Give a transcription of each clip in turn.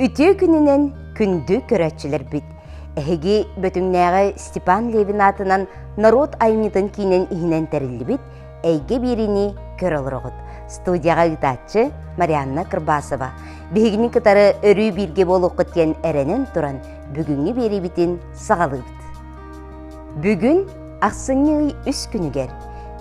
Үтүө күнүнэн күндү көрөөччүлэрбит! Эһиги Бөтүҥнээҕи Степан Левин аатынан норуот айымньытын киинин иһинэн тэриллибит «Эйгэ биэриини көрө олороҕут» студияҕа ыытааччы Марианна Кырбасова. Биһигини кытары өрүү бииргэ буолуоххут диэн эрэнэн туран, бүгүҥҥү биэриибитин саҕалыыбыт. Бүгүн ахсынньы ый үс күнүгэр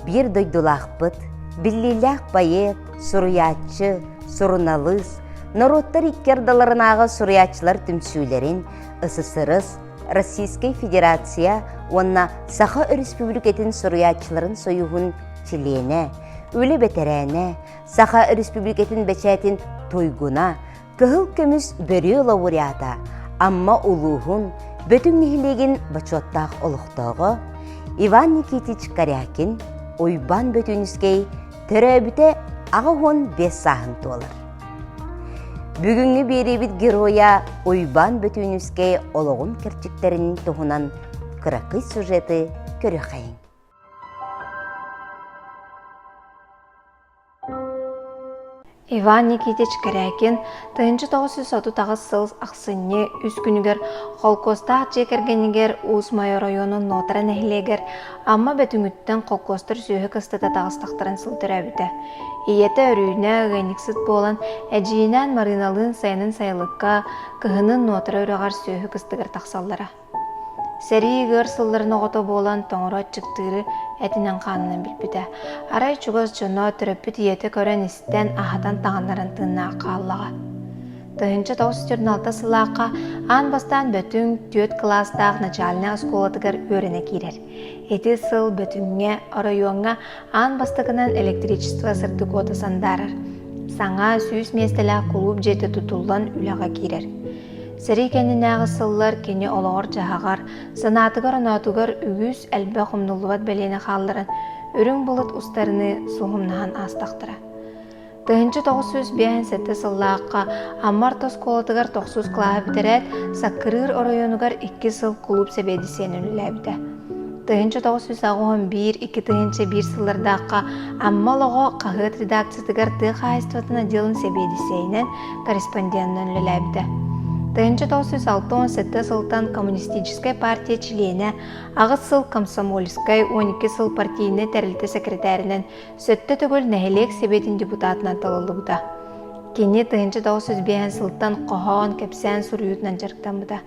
биир дойдулаахпыт, биллиилээх поэт, суруйааччы, суруналыыс, норуоттар икки ардыларынааҕы суруйааччылар түмсүүлэрин ССРС, Российскай Федерация уонна Саха Өрөспүүбүлүкэтин суруйааччыларын союһун чилиэнэ, үлэ бэтэрээнэ, Саха Өрөспүүбүлүкэтин бэчээтин туйгуна, Кыһыл көмүс бөрүө лауреата Амма улууһун Бөтүҥ нэһилиэгин бочуоттаах олохтооҕо Иван Никитич Корякин Уйбаан Бөтүнүскэй төрөөбүтэ аҕа уон биэс сааһын туолар. Бүгүҥҥү биэриибит геройа Уйбаан Бөтүнүскэй олоҕун кэрчиктэрин туһунан кыракый сюжеты көрүөхэйиҥ. Иван Никитич Кэрээкин тыһыынча тоҕус сүүс отут аҕыс сыл ахсынньы үс күнүгэр холкуостаах дьиэ кэргэнигэр Уус-Майа оройуонун Нотара нэһилиэгэр Амма Бөтүҥүттэн холкуостар сүөһү кыстата таҕыстахтарын сыл төрөөбүтэ. Ийэтэ өрүүнэ ыанньыксыт буолан, эдьиийинээн Марыыналыын сайынын сайылыкка, кыһынын Нотара үрэҕэр сүөһү кыстыгар тахсаллара. сэрии ыар сылларын оҕото буолан тоҥоро аччыктыыры этинэн хаанынан билбитэ арай чугас дьоно төрөппүт ийэтэ көрөн-истэн аһатан таҥыннаран тыыннаах хааллаҕа тыһыынча тоҕус сүүс алта сыллаахха аан бастаан бөтүҥ түөрт кылаастаах начальнай оскуолатыгар үөрэнэ киирэр ити сыл бөтүҥҥэ оройуоҥҥа аан бастакынан электричество сырдыкуота сандаарар саҥа сүүс миэстэлээх кулууп дьиэтэ тутуллан үлэҕэ киирэр Сэрии кэннинээҕи сыллар кини олоҕор-дьаһаҕар, санаатыгар-оноотугар үгүс элбэх умнуллубат бэлиэни хаалларан, үрүҥ былыт устарыныы суһумнаһан аастахтара. Тыһыынча тоҕус сүүс биэһин сэттэ сыллаахха Аммар тоскуолатыгар тохсус кылааһы бүтэрээт, Саккырыыр оройуонугар икки сыл кулууп сэбиэдиссэйин үлэлээбитэ. тыһыынча тоҕус сүүс оҕоһун биир икки тыһыынча биир сыллардаахха Амма олоҕо хаһыат редакциятыгар тыа хаһаайыстыбатын отделын сэбиэдиссэйинэн корреспонденынан үлэлээбитэ. Тыһыынча тоҕус сүүс алта уон сэттэ сылтан коммунистическай партия чилиэнэ, аҕыс сыл комсомольскай, он икки сыл партийнай тэрилтэ секретаринан, сөттө төгүл нэһилиэк сэбиэтин депутатынан талыллыбыта. Кини тыһыынча тоҕус сүүс биэһин сылтан хоһоон, кэпсээн суруйуутунан дьарыктаммыта.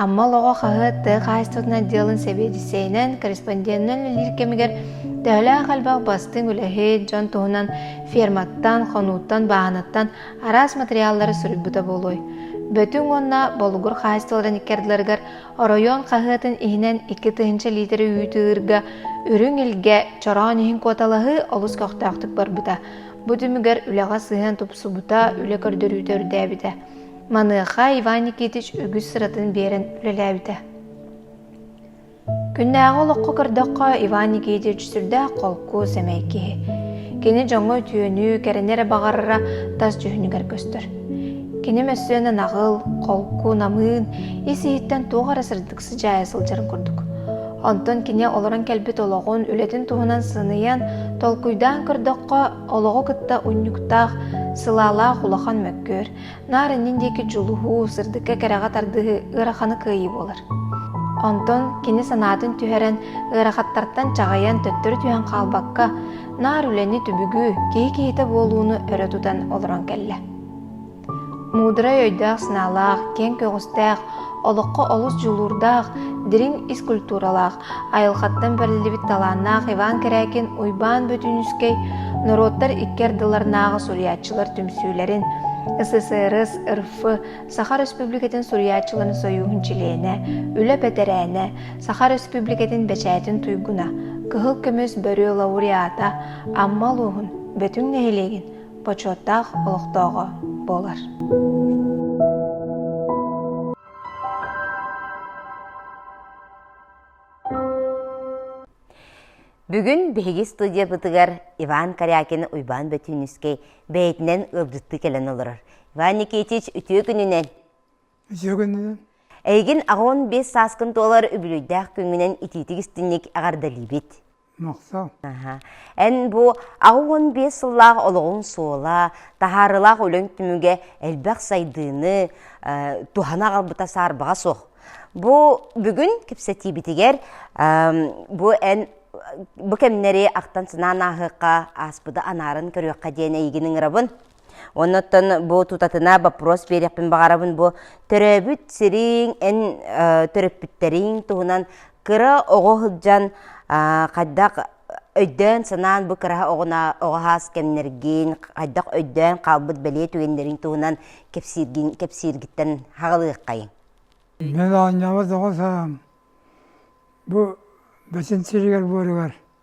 Амма олоҕо хаһы тыа хаһаайыстыбатын отделын сэбиэдиссэйинэн, корреспонденынан үлэлиир кэмигэр төһөлөөх элбэх бастыҥ үлэһит, дьон туһунан ферматтан, хонууттан, бааһынаттан араас матырыйааллары суруйбута буолуой? Бөтүҥ уонна Болугур хаһаайыстыбаларын икки ардыларыгар оройуон хаһыатын иһинэн икки тыһыынча лиитири үүтү-ыырга үрүҥ илгэ чороон иһин куоталаһыы олус көхтөөхтүк барбыта. Бу түмүгэр үлэҕэ сыһыан тупсубута, үлэ көрдөрүүтэ үрдээбитэ. Маныаха Иван Никитич үгүс сыратын биэрэн үлэлээбитэ. Күннээҕи олоххо көрдөххө, Иван Никитич сүрдээх холку, сэмэй киһи. Кини дьоҥҥо үтүөнү, кэрэни эрэ баҕарара тас дьүһүнүгэр көстөр. Кини мөссүөнэ наҕыл, холку, намыын, ис-иһиттэн туох эрэ сырдык сыдьаайа сылдьарын курдук. Онтон кини олорон кэлбит олоҕун, үлэтин туһунан сыныйан, толкуйдаан көрдөххө, олоҕу кытта унньуктаах, сылаалаах улахан мөккүөр, наар иннин диэки дьулуһуу, сырдыкка кэрэҕэ тардыһыы ыараханы кыайыы буолар. Онтон кини санаатын түһэрэн, ыарахаттартан чаҕыйан төттөрү түһэн хаалбакка, наар үлэни түбүгүү, киһи киһитэ буолууну өрө тутан олорон кэллэ. Муударай өйдөөх-санаалаах, киэҥ көҕүстээх, олоххо олус дьулуурдаах, дириҥ ис культуралаах, Айылҕаттан бэриллибит талааннаах Иван Корякин Уйбаан Бөтүнүскэй норуоттар икки ардыларынааҕы суруйааччылар түмсүүлэрин, СССР РФ Саха Республикатын суруйааччыларын сойууһун чилиэнэ, үлэ бэтэрээнэ, Саха Республикатын бэчээтин туйгуна, кыһыл көмүс бөрүө лауреата Амма улууһун Бөтүҥ нэһилиэгин бочуоттаах олохтооҕо буолар. Бүгүн биһиги студиябытыгар Иван Корякин Уйбаан Бөтүүнүскэй бэйэтинэн ыалдьыттыы кэлэн олорор. Иван Никитич, үтүө күнүнэн. Үтүө күнүнэн. Эйигин аҕыон биэс сааскын туолар үбүлүйдээх күҥҥүнэн итиитик истинник эҕэрдэлиибит. Эн бу аҕыс уон биэс сыллаах олоҕуҥ суола, таһаарылаах үлэҥ түмүгэ элбэх сайдыыны туһана аҕалбыта саарбаҕа суох. Бу бүгүн кэпсэтиибитигэр бу эн бу кэмнэри ахтан санаан ааһыахха, ааспыты анаарын көрүөххэ диэн эйигин ыҥырабын. Оннуттан бу тутатына боппрос берехпин бағарабын бу төрөөбүт сириң, эн төрөппүттэриң туһунан кыра оҕо сылдьан хайдах өйдөөн санаан бу кыраһа оҕуна оҕаһаас кэмнэргин, хайдах өйдөөн хаалбыт бэлиэ түгэннэрин туһунан кэпсииргин кэпсииргиттэн хаҕылыаххайын. Мен оонньообот оҕо саам бу бөсүн сиригэр буоругар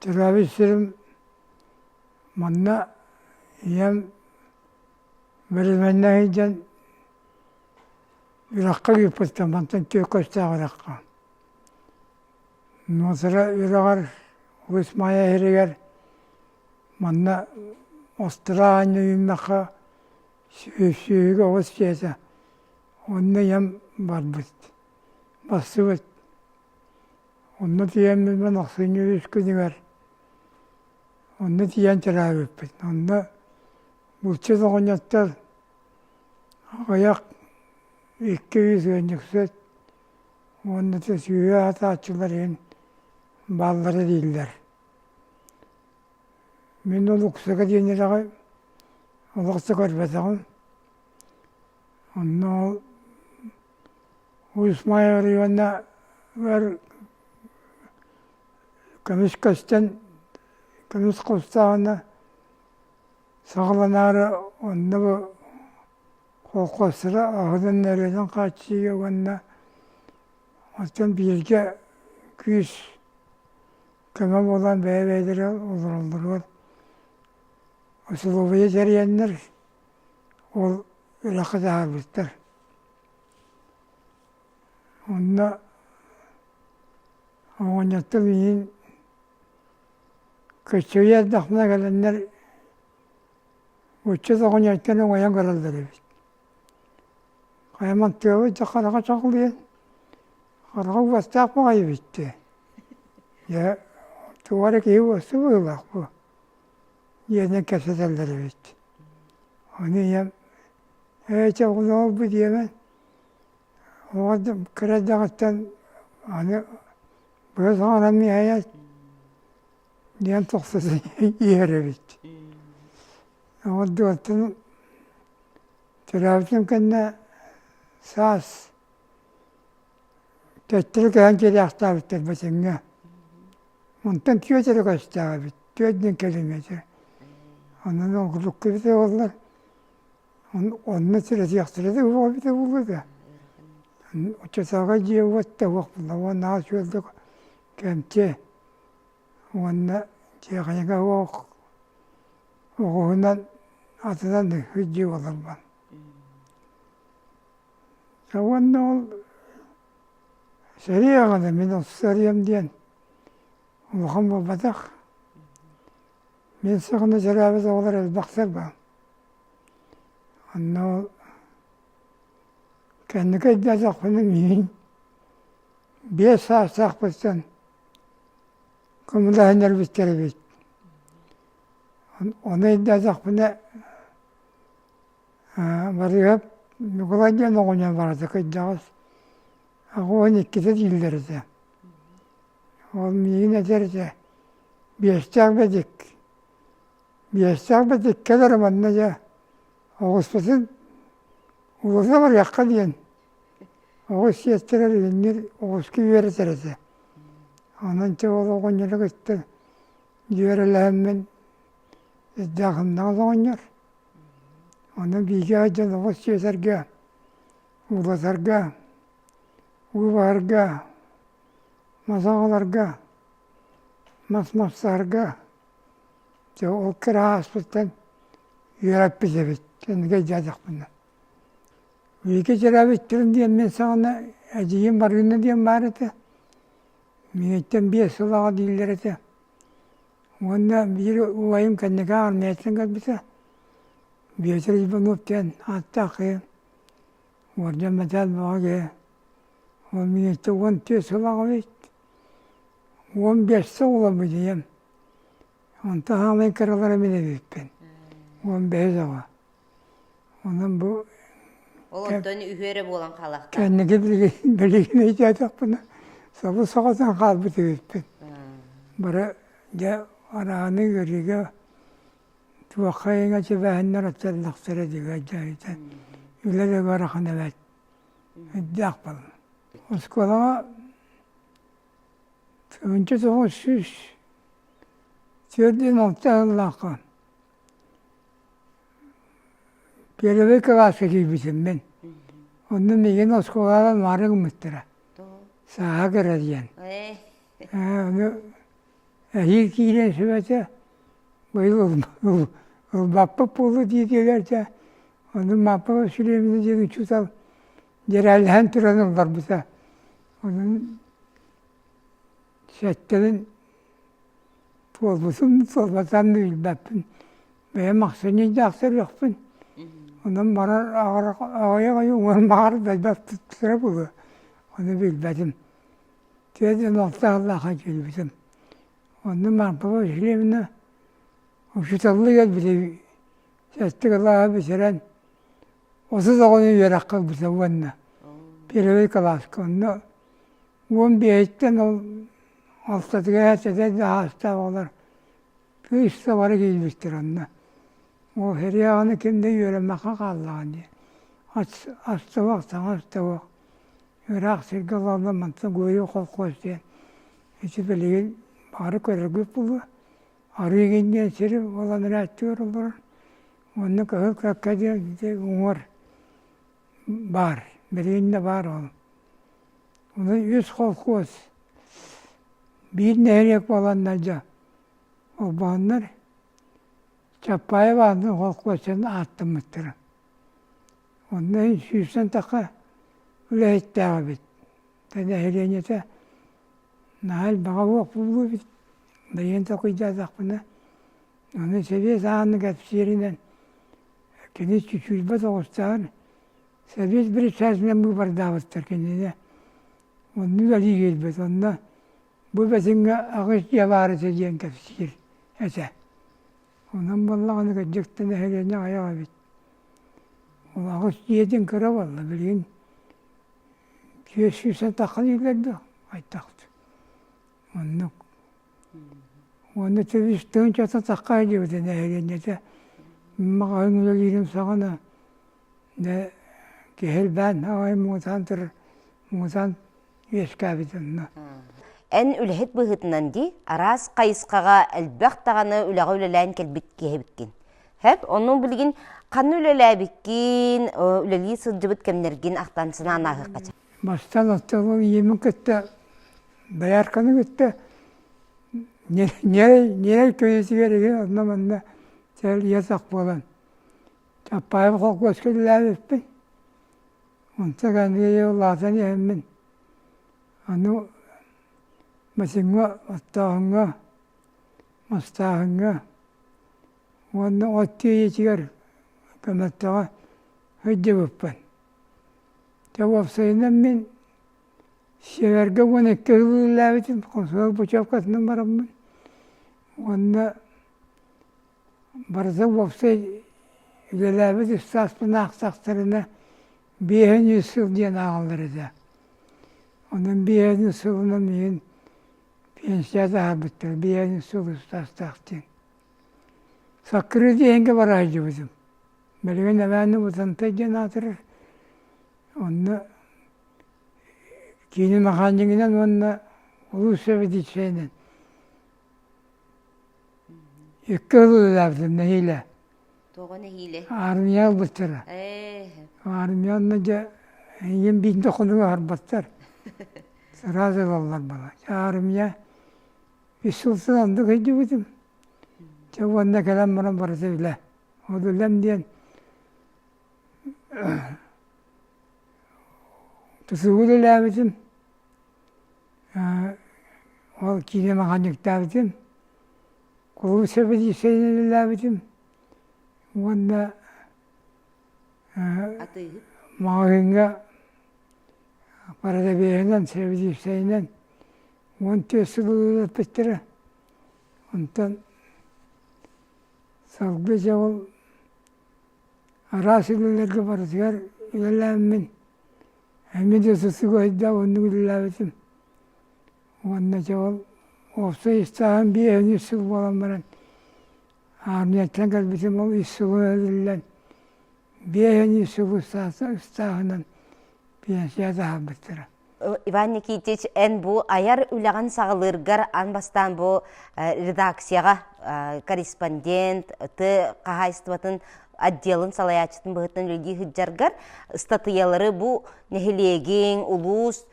Төрөөбүт сирим манна ийэм мэрилиннэ сылдьан үрэххэ ыыппыттар мантан түөрт куостаах үрэххэ нуосара үрэҕэр Уус Маайа иһиригэр манна Астра аанньа үүммэххэ сүөһүгэ оҕус дьиэтэ онно ийэм барбыт барсыбыт Онно тиийэн мин ахсынньы үс күнүгэр онно тиийэн чыраабыппыт. Онно булчут оҕонньоттор аҕыйах икки ыыс ыанньыксыт уонна сүүһэ атааччылар иһин бааллара дииллэр. Мин ол уксуга диэн үрэҕи олохсо көрбөтөҕүм. Онно ол Усмая Ивановна бэр көмүс көстөн көмүс кустааҕына саҕаланаары онно бу холхуостара аһынан эрэнэн хааччыйыа уонна оттон бииргэ күүс көмө буолан бэйэ-бэйэлэрэ олороллоругар усулуобуйа дьэрийэннэр Ол ыраах дьаһаабыттар. Онно оҕонньоттор миигин көччүйэ эрдэхпинэ кэлэннэр ыччат оҕонньоттон уҥайан көрөллөр эбит. Хайаман тыабыт дьэ хараҕа чаҕылыйан, хараҕа уостаах баҕайы бүттэ. Дьэ тугу эрэ киһи уосту быһыылаах буо. диэнэн кэпсэтэллэр эбит. Ону ийэм ээ чэ оҕуна буолбу диэмэн оҕо кыра эрдэҕиттэн аны быһа саҕанан миэһэйэт диэн тохсус иһэр эбит. Оҕордубуттан төрөөбүтүм кэннэ саас Төттөрү көһөн киириэхтээбиттэр Бачыҥҥа. Онтон түөрт эрэ көстөөбүт, түөрт диэн километр. Онон оргудукка эбитэ буоллар, онно сирэтиэхтэрэ да буол эбитэ буолуо да. Оччотооҕу дьиэ уот да уох буолла, уон аҕыс үөрдүк кэмчи уонна дьиэхэйэҥэ уох оҕуһунан атынан ыһыт дьиэ буоларбан. уонна ол сэрии аҕата мин отус сариям диэн улахан буолбатах мин саҕана сэрээбит оҕолор элбэхтэр баа онно ол кэнники өйдөөтөхпүнэ миигин биэс саастаахпыттан көмөлөһүнэрбиттэр эбит ону өйдөөтөхпүнэ Барыыһап Ньукулай диэн оҕонньор барыта кырдьаҕас уон иккитэ дииллэр этэ. Ол миигин этэр этэ биэстээх бэдик биэстээх бэдик кэлэр манна дьэ оҕуспутун уулусса барыахха диэн оҕус сиэттэрэр илиннир оҕуска үөрэтэр этэ. Онон чэ ол оҕонньору кытта дьүөрэлэһэммин ирдээх умнаҕас оҕонньор Ону бииргэ сылдьан оҕус сиэтэргэ, уулатарга, уулаһарга, мазал ыларга, мас мастарга дьэ ол кыра ааспыттан үөрэппит эбит кэнники дьиэтэхпинэ. Бииргэ дьиэрэбиттэрин диэн мин саҕана эдьиийим барыынна диэн баар этэ. Миигиттэн биэс сыл аҕа дииллэр этэ. Уонна биир убайым кэнники армиятынан кэлбитэ, Биотир Иванов диэн ааттаах киһи, уордьан мэтээл бөҕө киһи. Ол миэстэ уон түөрт сыллаах эбит. Уон биэсэ уола будьуйам. Онто хааман кыралара мин эбиппин. Уон бэһис аҕа. Онон бу Ол онтон үһүө эрэ буолан хаалахтаах. кэнники билигин өйдөөтөхпүнэ сабы соҕотон хаалбыт эбиппин. Бары дьэ арааһаны ыарыыга туохха иҥэ сибээһиннэр оттоннохторо диги өйдөөтүн. Үлэ да ыарахан эбээт. Өйдөөх балан. Оскуолаҕа тыһыынча тоҕус сүүс түөрт жүз алта сыллаахха Первый кылааска киирбитим мин. Онно миигин оскуолаҕа нуара гыммыттара. Сааһа кыра диэн. Ээ ону эһиил киирэн сүбэтэ быйыл ылбаппыт буолуо дии диэбитэ. Ону Мааппа Васильевна диэн учуутал дьэрээлэһэн туран олорбута. Онон сэттэрин туолбутун туолбатан билбэппин бэйэм ахсынньыйдаахтар үһүөхпүн онон барар аҕай аҕай уҥуорум баҕар билбэппиттэрэ буолуо ону билбэтим тиэдэн алта сыллаахха киирбитим онно марпа васильевна учителлыгар били сэттэ кылааһы бүтэрэн отут оҕону үөрэххэ ылбыта уонна первый кылааска онно уон биэһиттэн ол алтатыгар эһэтэтэ да саастаах оҕолор кыыста бары киирбиттэр онно ол хириаҕаны ким да үөрэммэххэ хааллаҕа дии астыбах саҥа астыбах ыраах сиргэ олорно мантан гойу колхоз диэн ити билигин бары көрөргүт буолуо арыы гин диэн сир буолан эрээттиэр олорор Онно кыһыл кыакка диэн уҥуор баар, билигин баар ол. Ону үс холкуос, биир нэһилиэк буоланнар дьэ холбоһоннор Чаппаев аатын холкуостарын ааттаммыттара. Онно сүүстэн тахха үлэһиттээҕ эбит. Нэһилиэнньэтэ наһаа элбэҕэ буолуо эбит. Бэйиэн толкуйдаатахпына Аны Сэбиэт ааҕыны кэпсииринэн, кини чочуйбат оҕустаан Сэбиэт председателинэн быыбардаабыттар кинини. Онно үлэлии киирбит. Онно бу бэтиҥҥэ аҕыс дьиэ баар этэ диэн кэпсиир этэ. Онон буоллаҕына кырдьык нэһилиэнньэ аҕыйах эбит. Ол аҕыс дьиэтин кыра буолла билигин түөс сүүстэн тахха дииллэр да айтахта. Оннук. Уонна сөбүстэн чата таккаай диэбитэ нэһилиэнньэтэ маҕаһыын үлэлиирим саҕана да киһирбээн аҕайын муҥутаан турар муҥутаан үөскээбит онно. Эн үлэһит быһыытынан дии араас хайысхаҕа элбэх даҕаны үлэҕэ үлэлээн кэлбит киһибиккин. Хэт ону билигин ханна үлэлээбиккин, үлэлии сылдьыбыт кэмнэргин ахтан санаан ааһыахха сөп. Бастаан оттообун ийэбин кытта доярканы кытта ньирэй ньирэй көйүүтүгэр үһү онно манна сэлиэсэх буолан Чапаев холкуоска үлэлээбиппин онтон аны улаатан иһэммин аны бачыҥҥа оттооһуҥҥа мастааһыҥҥа уонна от тиэйиитигэр көмөлтөҕө сылдьыбыппын Дьэ уопсайынан мин сиэргэ уон икки сыл үлэлээбитим, хомсомол путевкатынан бараммын уонна барыта уопсай үлэлээбит ыстааспын аахтахтарына биэһин үс сыл диэн ааҕаллар этэ. Онон биэһин сылынан иһин пенсията аһарбыттар, биэһин сыл ыстаастаах диэн. Саккыры диэхингэ бараайдьыбытым. Бэлиэн эбээни Бытантай диэн аатырар. Онно киинин ахаанньыгынан уонна улуус сэбиэдиссэйинэн икки ыл үлэлээбитим нэһиилэ. Тоҕо нэһиилэ? Аармыйа ылбыттара. Ээ. Аармыйа онно дьэ эйигин биирдэ хонугу аһарбаттар. Сразу ылаллар бала. Аармыйа vis сыл сыл андык өйдүбүтүм. Чэ уонна кэлэн баран барыта билэ. Одулем диэн ТСУгу үлэлээбитим, ол киинэ механиктаабытым, кулууп сэбиэдиссэйинэн үлэлээбитим уонна маҕаһыыҥҥа парадэбиэһинэн, сэбиэдиссэйинэн уон түөрт сыл ылыппыттара. Онтон салгыы дьэ ол араас үлэлэргэ барытыгар үлэлээммин эмиэ да сосугайда оннук үлэлээбитим уонна дьэ ол уопсай ыстааһым биэһин үс сыл буолан баран аармыйаттан кэлбитим ол үс сылы эбиллэн биэһин үс сыл ыстааһынан пенсияҕа таһаарбыттара Иван Никитич, эн бу айар үлэҕин саҕалыыргар ан бастаан бу редакцияҕа корреспондент, тыы хаһаайыстыбатын отделын салайааччытын быһыытынан үлэлии сылдьаргар ыстатыйалары бу нэһилиэгиҥ, улуус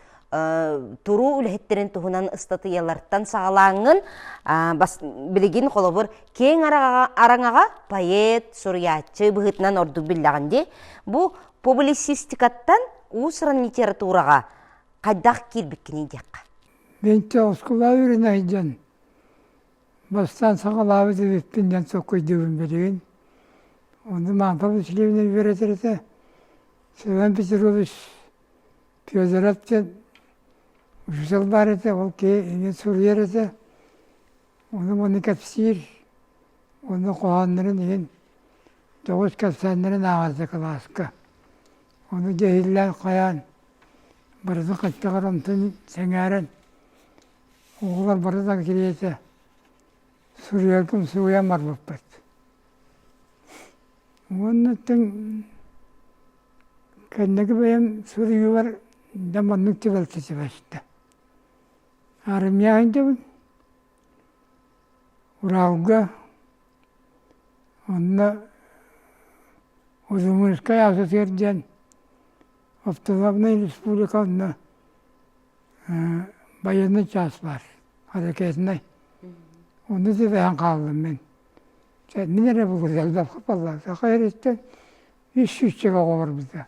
туруу үлэһиттэрин туһунан ыстатыйалартан саҕалааҥҥын билигин холобур кең араҥаҕа поэт, суруйааччы быһыытынан ордук биллэҕин дии. Бу Публицистикаттан уус-уран литератураҕа хайдах киирбиккиний диэххэ. Бэнтэ оскуола үөрэнэ дьон бастаан саҕалаабыт эбиппин диэн соккойдуубун билигин. Ону Мантал Васильевна үөрэтэр этэ. Семен Петрович Федоров диэн учуутал баар этэ, ол киһи иҥин суруйар этэ. Ону уону кэпсиир, уону хоһооннорун иһин тоҕус кэпсээннэрин ааҕарда кылааска. Ону дьэһиллээн хайаан барыта хаччаҕар онтон сэҥээрэн оҕолор барыта кириэтэ суруйаргын суруйан барбыппыт. Уоннаттан кэнники бэйэм суруйуулар да маннык түбэлтэ сибэстэ Армия өйдөбүл Уралга онно Удмуртскай Асатыыр диэн автономная республика онно байыаннай чаас баар ракетнай ону ситиһэн хааллым мин мин эрэ буолбатах саха эриттэн үс сүүсчэ оҕо барбыта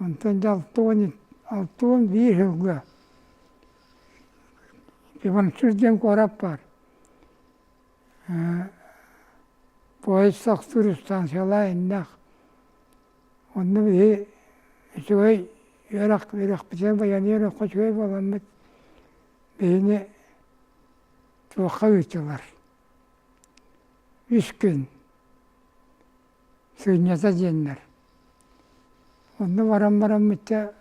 Онтон дьэ алта уон алта уон биир сылга Иванчук диэн куорат баар поезд тахсыыр ыстаансыйалаах иннэх онно биһи үчүгэй үөрэх үөрэхпитин байаныы олоххо үчүгэй буоламмыт биһини туохха ыытылар үс күн Сынньата диэннэр. Онно баран бараммычча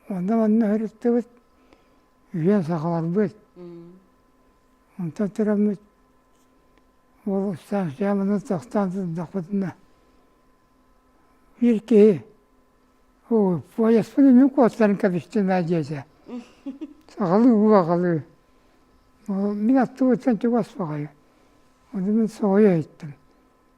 онно манна сырыттыбыт, үйэ сахаларбыт. Онтон тураммыт уол ыстаансыйа манан тахсан сырдахпытына биир киһи оо поезпын иннин куоттарын кэбистим ээ диэтэ. Сахалыы убаҕалыы. Мин аттыбыттан чугас баҕайы. Ону мин соһуйа иһиттим.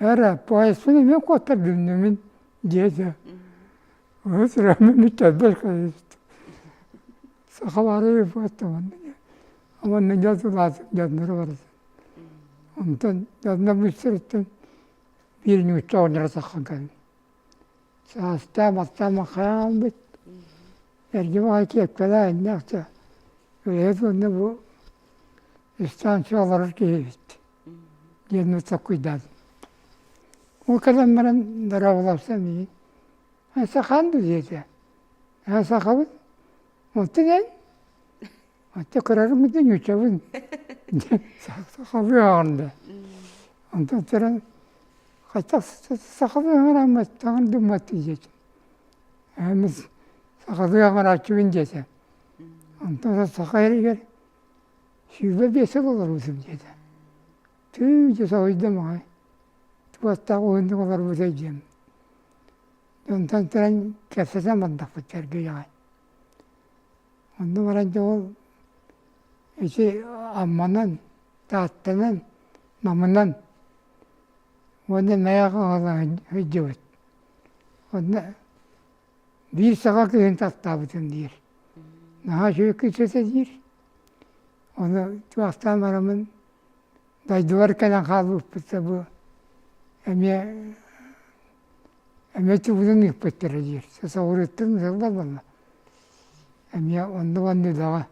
Эрэ поездпын эмиэ куоттардыннымын диэтэ уһун сүрэхпин сахалары уонна дьадылаатым дьонноро баран онтон дьонно быстарыттан биир ньуучча оҕонньоро тахсан кэллэ саастаах мастаах хайа хаалбыт эргэ баҕайы киэпкэлээх иннээхтэ үлэһит уонна бу ыстаансыйа олорор киһи эбит диэн ыччаккуйдаат Ол кэлэн баран дорооболопсом ии «Эн сахаан дуо?» диэтэ «Ээ сахабын оттон эн оттон кырарыммын да ньууччабын» диэн сахалыы ааҕынна онтон туран «Хайдах сахалыы аҥараамматтаҕын думматтын?» диэтим «Ээммин сахалыы аҥарааччыбын» диэтэ онтон саха эригэр сүүрбэ биэсэ олорбутум диэтэ. Тыы дьэ соһуйда маҕай. Туоттаах уһуннук олорбутай диэн. Онтон туран кэпсэтэн бардахпыт сэргэйэҕэ. Онно баран дьэ ол ити амманан, тааттанан, намынан уонна мэйэх оһола сылдьыбыт. Онно Биир саҕа кыһын тастаабытым диир. Наһаа үчүгэй кыыс этэ диир. Ону чугастаан бараммын дойдубар кэлэн хаалбыппыт да бу эмиэ эмиэ тубутун ыыппыттара диир. Сосоҕуруттан сылбар буолла. Эмиэ оннук-оннук даҕа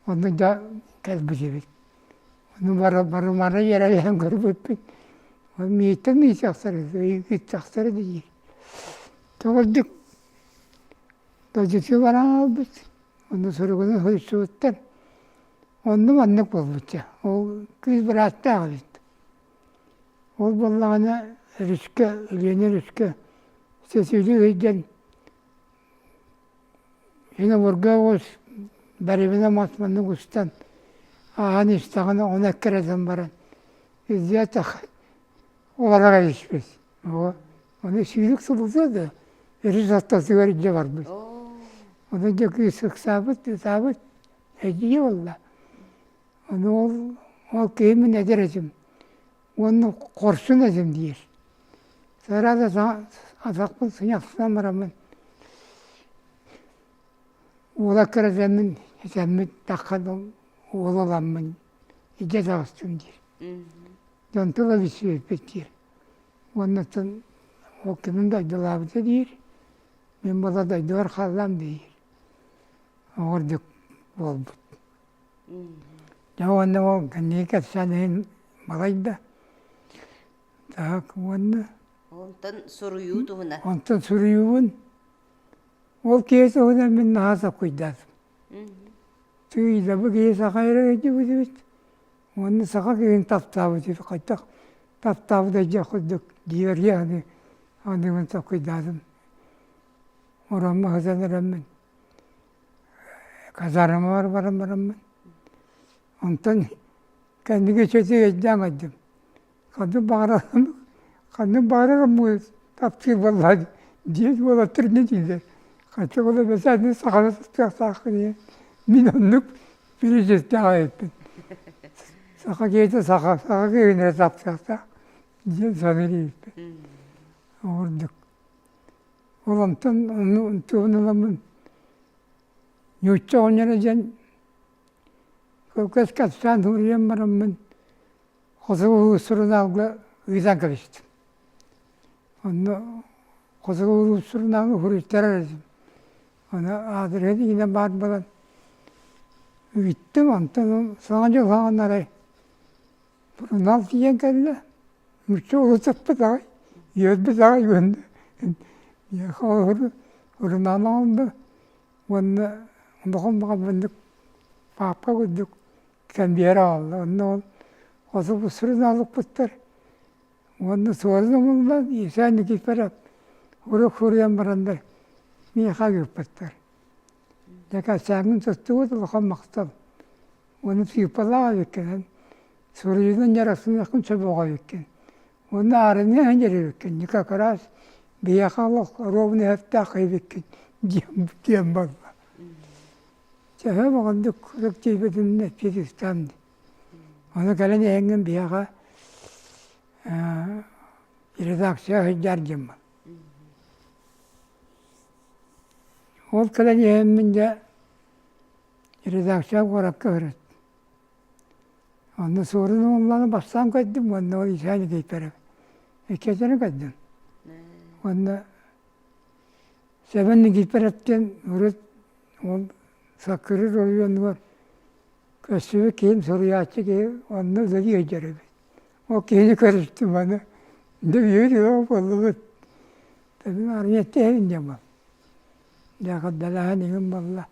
оннук да кэлбит эбит. Ону бары бары мары иэрэйэн көрбүппүт. Ол мииттэн миичэхсэр ыйытсахсар диир. Көҕүлдүк додьуту баран ылбыт, онно суругуну суруйсубуттар. Онно маннык буолбуттар, ол кыыс бырааттаах эбит. Ол буоллаҕына өрүскэ, Леня өрүскэ сесюди ыйдын, Инебурга уус барыбына мас маннык устан ааһан истэҕинэ, ону эккирэтэн баран илдьэ атах олороро испит. Оҕо аны сүүрүк сылытыа да өрүс ортотугар илдьэ барбыт. Ону дьэ кыыс ыксаабыт, ытаабыт, эдьиийэ буолла. Ону ол ол киһи мин эдэр этим уонна хорсун этим диир. Сыра да атахпын сыньахсынан бараммын уола кыратаммын этэммин таххан уола ыламмын илдьэ таҕыстым диир. Дьон тыла бүччүмэппит диир. Уоннаттан ол кимин дайдылаабыта диир, мин бала дайдыбар хааллам диир. Оҕордук буолбут. Дьэ уонна ол кэнники кэпсээн иһин балайда так уонна Онтон суруйуу туһунан. онтон суруйуубун ол киһи туһунан мин наһаа сокуйдатым. Тыый да бу киһи саха эрэ өйдүбүт эбит Уонна саха киһин таптаабыт үһү хайтах таптаабыт эдьэ курдук диэри аны аныгын сокуйдаатын ороммо сытан эраммин казармабар баран бараммын онтон кэнники чөтү эйдэ аңайдым Ханнык баҕарар ханнык баҕарар омук таптыыр буоллаҕа дьиэ уолаттар инньэ дииллэр ханча буолла бэсээтинэй сахалар тустуохтааххын ийэ мин оннук президенттээх эбиппин саха киһитэ саха саха киһитинэ таптыахтаах диэн саныыр эбиппин ол ордук ол онтон ону тугун ыламмын нуучча оҕонньоро диэн көккөс капитан уурайан бараммын Хосугу сурунаалга ыытан кэбистим. Онно хосугу сурунаалга суруйтарар этим. Аны аадырыһа игинэн баар буолан үгүттüm, онтон саҥа дьыл хаҕан арай сурунаал тиийэн кэллэ. Нуучча улутаппыт аҕай, үөрбүт аҕай гынна. Холобур сурунаал оҥордо уонна олохон баҕа бырдык паапка курдук Кэмбиэр аҕалла. Онно ол особу сурунаалыкпыттар. Уонна суолун умуллан Евсей Никифоров урук суруйан бараннар миэхэ ыыппыттар. Дьэ кэпсээҥҥин туттубут улахан махтал. Уонна сыыппалаах эбиккинэн суруйуунан дьарыктаныаххын сөп оҕо эбиккин. Уонна аарыныа иһин Никак раз биһиэхэ олох ровный эһэптээх эбиккин диэн диэн барла. Төһө оҕондук куруук тиийбитим Эппиэтиттэн. Ону кэлэн эһиҥҥин биһиэхэ редакция сылдьар дьыммын. Ол кэлэн иһэммин дьэ редакция куоракка көрөт. Онно суорун уулланы бастаан көрдүм уонна ол Исаа Никитперев. Иккиэтинэн көрдүм. Уонна Сэбэн Никифоровтыын урут ол Саккырыыр оройуонугар көрсүбүт киһим суруйааччы киһи онно үлэлии сылдьар эбит. Ол киһини көрүстүм аны дьэ үйэбит ыла буоллубут. Эбим армияттээһин диэн буол. Лэҕэрдэлэһэн иҥин буолла.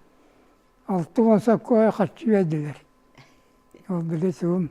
Алты уон сокуона хаччы биэрдилэр. Ол били суум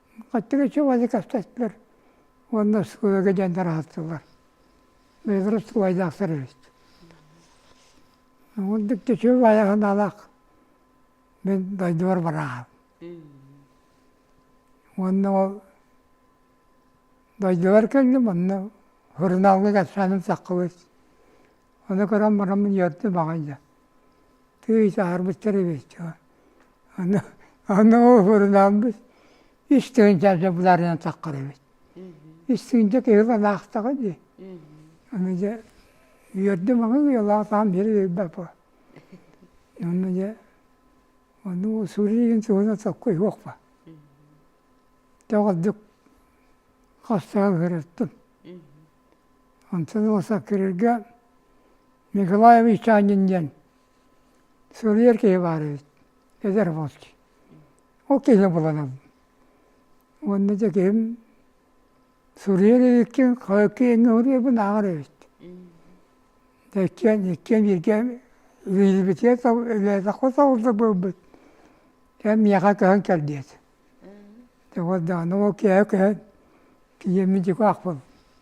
Хаттыга чубаны каптатпар уонна оскуолага диэн тараһаттылар. Бэйэлэрэ оскуолайдаахтар эбит. Оннук да чуб айаҕанаалаах мин дойдубар барааһын. Уонна ол дойдубар кэллим, онно сурунаалга кэпсээним саххыбыт. Ону көрөн бараммын үөрдүм аҕай да. тыый саһарбыттар эбит ону ону уһурунаалбыт үс тыһыынча дьэ булаарынан таххар эбит үс тыһыынча киһи анаахтаҕа дии аны дьэ үөрдүм аҕай уйалаах таһым биэри биэрбэп онно дьэ ону усуриин туһунан соккой суохпа тоҕордук хастаан ыһырыттым онтон ылса кириргэ Николаевич Чанин диэн суруйар киһи баар эбит, эдэр волки. Ол киһини буланабын. Уонна дьэ киһим суруйар эбиккин, киэҥҥэ уруйбун ааҕар эбит. Да иккиэн, иккиэн бииргэ үлэлэбитигэр үлэлэтэххэ соҕурдук буолбут. Эн миэхэ көһөн кэл диэт. Ол даҕаны ол киэһэ көһөн, киһиэммин дьику аахпын.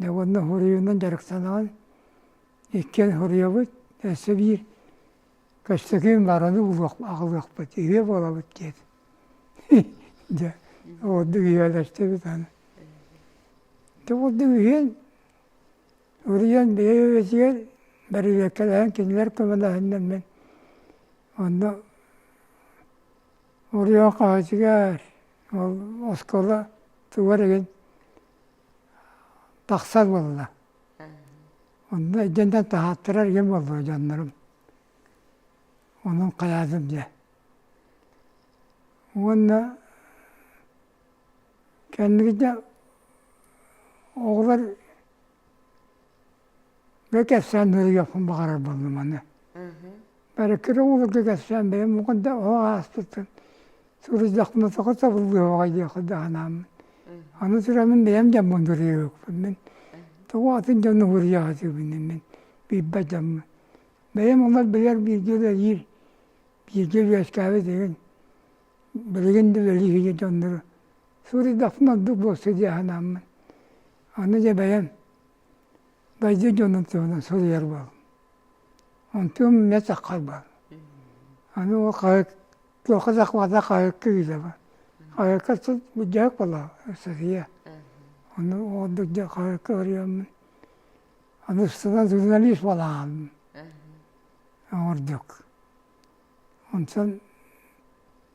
уонна хоруйунан дьарыктанаҕын иккиэн хоруйабыт өссө биир көстөкүүн бараны булуох аҕалыахпыт үһүө буолабыт диэт дьэ ордук ийэлэстибит аны ити курдук үһүөн уруйан бэйэбитигэр бэрилиэккэлээн кинилэр көмөлөһүннэн мин онно уруйан хаһыытыгар ол оскуола тугар игин тахсар буолла. Онно итиэннэ таһааттарар ийэм буоллуо дьоннорум. Онон хайаатым дьэ. Уонна кэнники дьэ оҕолор Бу кэпсээн ыйыахпын баҕарарбын маны бары кыраҕыларга кэпсээн бэйэм уган да оһох аастытын суруйдахпына тоҕо табыллыаҕай диэххэ да санааммын аны тураммын бэйэм дьоммун уруйуохпун мин тоҕо атын дьону уруйаҕытыбыный мин билбэт дьоммун бэйэм олор билэр бииргэ үлэлиир бииргэ үөскээбит игин билигин да үлэлиир дьоннору суруйдахпына ордук буолсу дии санааммын аны дьэ бэйэм Байдьа дьонун туһунан суруйар буоллум. Онтум мэтэх харбаан. Аны ол хаһыакка туохха да хабата хаһыакка ыытаба. Хаһыакка сут буддьаак болоо сырыйа. Ону ордук дьэ хаһыакка ырыаммын. Аны устунан журналист буолаанмын. Ордук. Онтон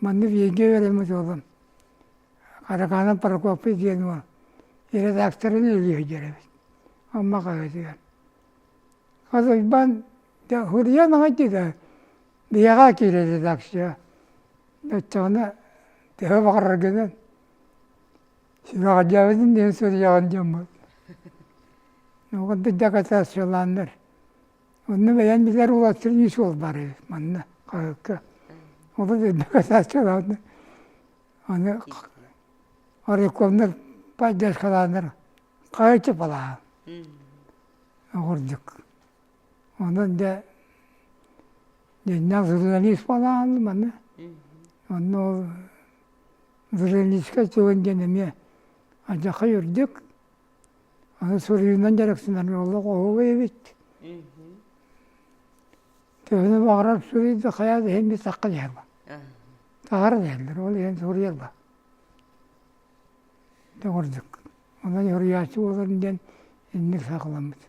Манна Венгия үөрэммит уолум Караганов Прокопий диэн уол редакторын үлүһүйдэр эбит Амма хаһыатыгар. Халыйбан да суруйан аҕай да биһиэхэ киирэр редакция өттөҕүнэ төһө баҕарар гынан сүрэҕэлдьээбитин диэн суруйаҕын дьоммут оҕо дакатаациялааннар Онно бэйэн билэр улаатарын ис уол барыы манна хаһыакка олус иннэ касааччылаанна аны Орюковнар поддержкалааннар хаһыаччы балаһа оҕурдук онон дьэ дьиннээх журналист балаһан манна онно ол журналистка чугун диэн эмиэ адьаха үрдүк суруйуунан дьарыктанар олох оһугу эбит төһөнө баҕарар суруйда хайа да иһин битахха дьаһыма таһара диһэллэр ол иһин суруйалла төгүрдүк онон суруйааччы буоларын диэн инник саакаламмыт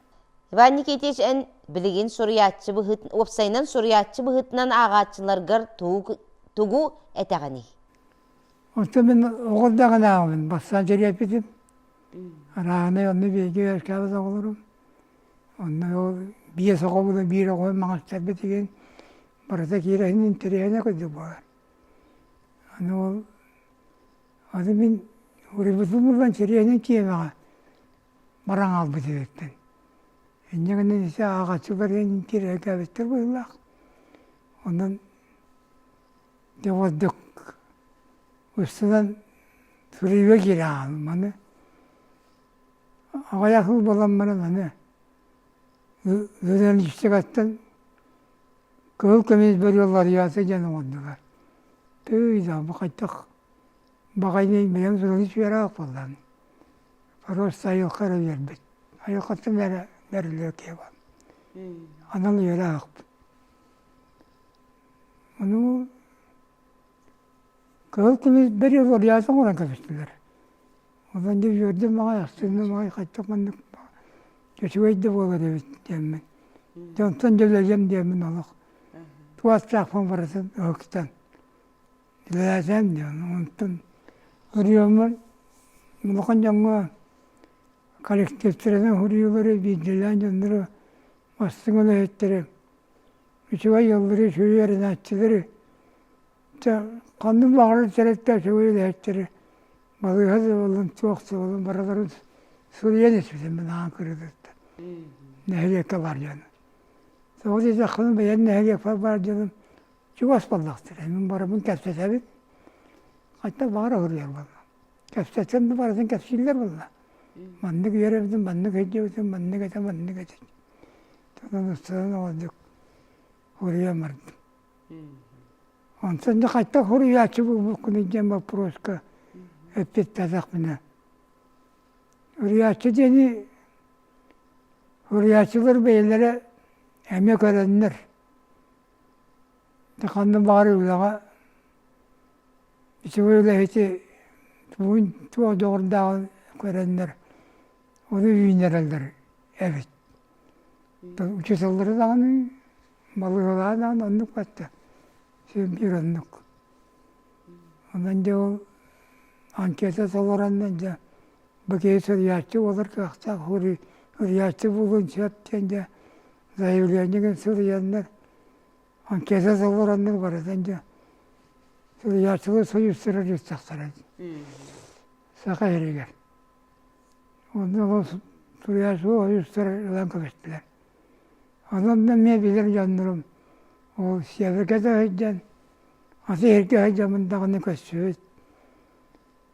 Иван Никитич эн билигин суруйааччы быһыт уопсайынан суруйааччы быһытынан аагааччыларгар тугу тугу этэҕиний Оттон мин оҕо эрдэҕинээҕибин бастаан төрүөппүтүм. Арааһынай онно бииргэ үөскээбит оҕолорум. Онно биэс оҕо буолан биир оҕону маҕастарбыт игин барыта киирэһинин интэриэһинэ курдук буолар. Аны ол аны мин уруйбутум булан интэриэһинэн киэмэҕэ баран хаалбыт үһүттэн. Инньэ гынан ити ааҕаччы барыан интириэһиргээбиттэр быһыылаах. Онон Дьэ ордук өссөнөн суруйуо киирэ аһаатым аны аҕыйах ыл буолан баран аны журналистикаттан кыһыл көмүс бөрүөлларыйа сылдьан оҥордулар тыый да бу хайдах баҕайыный бэйэм суруйуус үөрээх буоллам просто айылҕа эрэ үөрбүт айылҕаттан эрэ бэриллиэ киһи баар анал үөрэхпин Ону кыһыл көмүс бэри олоруйаасы оҥорон кэбистилэр. Онон дьэ үөрдүм маҕай, астынным маҕай хаччах маннык чочугай да буолар эбит диэммин. Дьэ онтон дьулайыам диэммин олох туостаахпын барытын өһүктэн үлэлээсэм диэн онтон ырыаммын улахан дьоҥҥо коллективтэринэн уһуруйуулары биирдиилээн дьоннору Массыҥаны эһиттэрэ, үчүгэй ыаллары сүрү эрэнээччилэри, чэ, ханным лааҕырын сэрэттэ үчүгэй эһиттэрэ, балыыһа да буоллун, туох да буоллун, барыларын суруйан испитим мин аан кырыытыттан. Нэһилиэккэ бар дьон. Тоҕо диэтэххинэ, бэйэн нэһилиэкпэр бар дьонум чугас буоллахтар. Мин барыбын кэпсэтэбин. Хантан баҕара уһуруйар буолла. Кэпсэтэн да барытын кэпсииллэр буолла. Маннык үөрэбитин, маннык өйдүүбүтүн, маннык этэ, маннык этэ. Тонон ыстынан оҕолдук уруйан бардым. Онтон да хайтан хуруйааччы буолбуккун идиэн боппуруоска эппиэттээтэхпинэ. Уруйааччы диэни уруйааччылар бэйэлэрэ эмиэ көрөннөр, да ханна баҕарар үлэҕэ ити үлэһити тугун туох дьоҕурдааҕын көрөннөр ону үүннэрэллэр эбит учууталлары даҕаны балыыһалаһа даҕаны оннук бачча сүрдүүр оннук онон дьэ ол анкета толороннор дьэ бу киһи суруйааччы буолар кыахтаах уруй уруйааччы буолуон сөп диэн дьэ заявлениегын сылыйаннар анкета толораннар барытын дьэ сылыйааччылар союзтара дьыттахтара саха эригэр онно ол суруйааччылар союзтара ылан кэбистилэр онон да мен билэр дьоннорум ол северга да сылдьан аты эргэ сылдьамын даҕаны көрсүбүт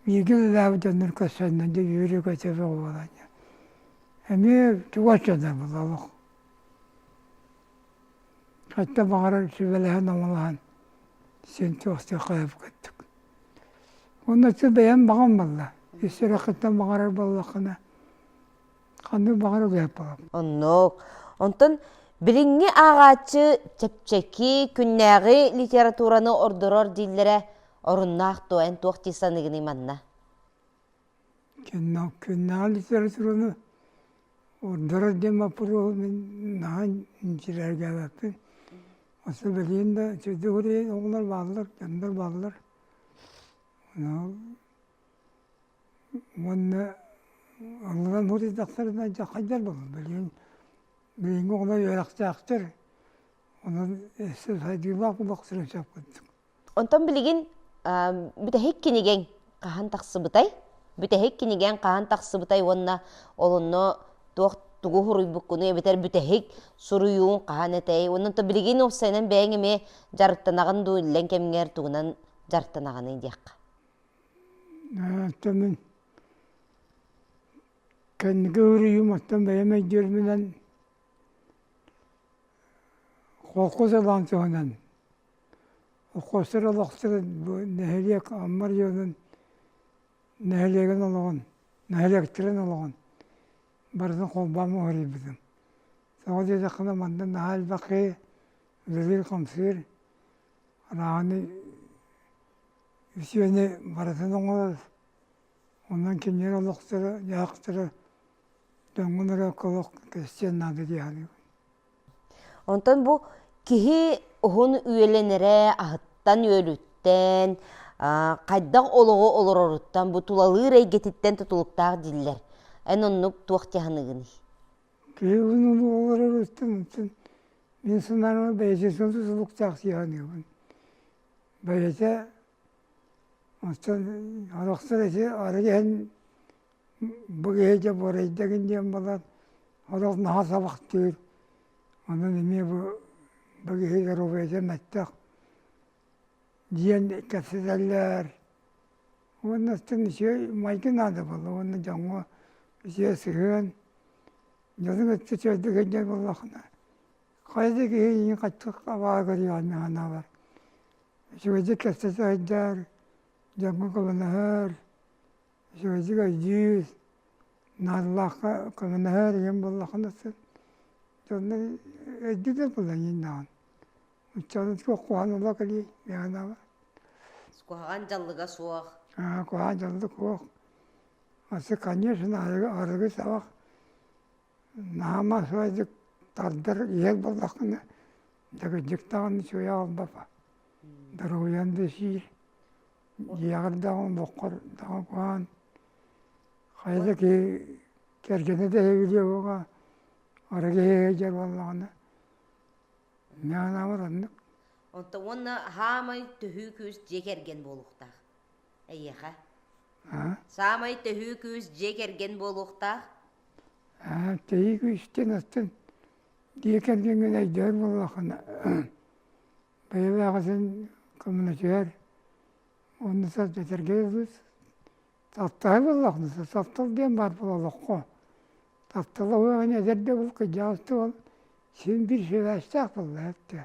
Миигин ылаабыт дьоннор көрсөннө дьэ үөрэ көтө буолан эмиэ чугас дьоно була олох хатта баҕарар сүбэлэһэн омолоһон син туохтук хайып көттүк уонна син бэйэм баҕам буолла ис сүрэххиттэн баҕарар буоллаххына Ханны баҕар улааппалам. Оннук. Онтон билиҥҥи ааҕааччы чэпчэки, күннээҕи литератураны ордорор дииллэрэ оруннаах дуо? Эн туох дии саныыгыный манна? Кэннэ күннээҕи литератураны ордорор диэн боппуруоһу мин наһаа инчирээргээбэппин. Оттон билигин да чөчүгүрүйэн оҕолор бааллар, дьоннор бааллар. уонна алларан утуйдахтарына дьэ хайдар буоллун билигин билиҥҥи оҕолор үөрэхтээхтэр онон өссө сайдыылаах буолуох сирин сөп курдук онтон билигин бүтэһик кинигэҥ хаһан тахсыбытай бүтэһик кинигэҥ хаһан тахсыбытай уонна олунну туох тугу суруйбуккунуй эбэтэр бүтэһик суруйууҥ хаһан этэй уонна то билигин уопсайынан бэйэҥ эмиэ дьарыктанаҕын дуу иллэҥ кэмҥэр тугунан дьарыктанаҕыный диэххэ Оттон мин кэнники уруйум оттон бэйэм өйдүөрүмүнэн холкус ылаан туһанан холкустар олохторун бу нэһилиэк Аммар дьонун нэһилиэгин олоҕун нэһилиэктэрин олоҕун барытын холбоон муһуруйбутум тоҕо диэтэххинэ манна наһаа элбэхи үлэлиир-хамсыыр арааһыны үсүөнү барытын оҥорор, онон кинилэр олохторо, дьаһахтара дьоҥҥунара колох кэстиэн наада дии саныыбын. Онтон бу киһи уһун үөлэнэрэ аһыттан үөлүттэн, хайдах олоҕу олороруттан, бу тулалыыр эйгэтиттэн тутулуктаах дииллэр. Эн оннук туох дьаһаныгыный? Киһи уһун олороруттан мин санаабар бэйэтин тутулуктаах дии саныыбын. бэйэтэ оттон арахсар эти арыгы иһэн бу киһи дьэ буорайдагын диэн буолан олох наһаа сабахтыыр онон эмиэ бу бу киһи доруобуйата мөлтөх диэн кэпсэтэллэр уонна оттон үчүгэй майгы наада буолла уонна дьоҥҥо үчүгэй сыһыан дьону кытта үчүгэйдик сынньан буоллаххына Хайа да киһи иһин хаччык абаа көрүөҕүнэ санаабар үчүгэйдик кэпсэ сылдьар, дьоҥҥо кылынаһар, үчүгэйдик өйдүүр, наадалаахха кылынаһар ийэм буоллаххына сын дьонно өйдүүрдэр буоллар иҥнаҕын ыччатын куһаҕан олох кэлиэй миэхэ санаабар куһаҕан дьаллыга суох аа куһаҕан дьаллык суох маннык конечно арыгы сабах Наама үчүгэйдик тардар ийэр буоллаххына дэгиддик даҕаны үчүгэй аҕалбапа доруобуйаҥ да сиир дьиэҕэр даҕаны олоххор даҕаны куһаҕан хайа да киһи кэргэнэ да иһигириэ буолуоҕа ара киһи иһигэр буоллаҕына миэхэ наамар оннук онтон уонна саамай төһүү күүс дьиэ кэргэн буолуохтаах эйиэхэ а саамай төһүү күүс дьиэ кэргэн буолуохтаах Тиһи күүстүн астын диэкэнгиҥҥин өйдөөн буоллаххына бэйэлээҕитин коммунатыгар уонна сэргэтэргиэбит таптаһыы буоллаххына таптал диэн баар буоллаххо таптал оһоҕун эдэрдэ бул кыдьаастыал син биир сибээстээх буолла эттэ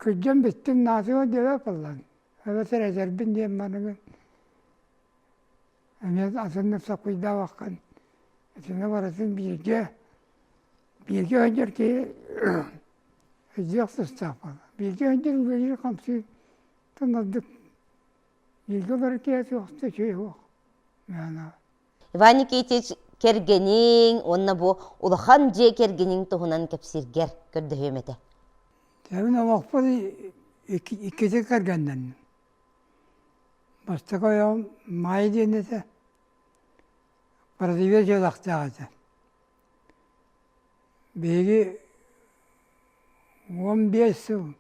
кыдьан бүттүн наатыга диэбэт буоллан эбэтэр эдэрбин диэн маныгын эмиэ атыннык саппыйдаабаккын итинэ барытын бииргэ бииргэ өнньөр киһи өйдүөх тустаахпын бииргэ өнньөр үлэлиир хамсыы тонордук бииргэ олорор киһи суох да үчүгэй суох мээнэ Иван Никитич кэргэниҥ уонна бу улахан дьиэ кэргэниҥ туһунан кэпсииргэр көрдөһүөм этэ. Тэбин олохпун иккитин кэргэннэнним. Бастакы ойоҕум Маайа диэн этэ, бородуюя дьыалахтаах этэ. Биһиги уон биэс сыл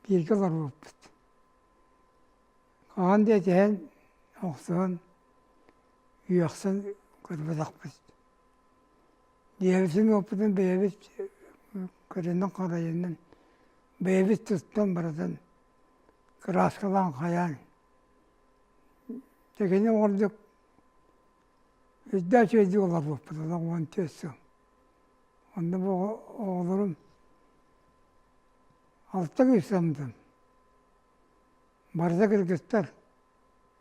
бииргэ олорбуппут. Хаһан да этиһэн, охсуһан, үөхсэн көрбөтөхпүт. Дьиэбитин уоппутун бэйэбит көрүнэн-харайынан, бэйэбит туттан барытын кырааскалаан хайаан тигини оҥордук үрдээх дьиэди олорбуппут ала уон түөрт сыл онно бу оҕолорум алта кыыс соммутум барыта кыргыттар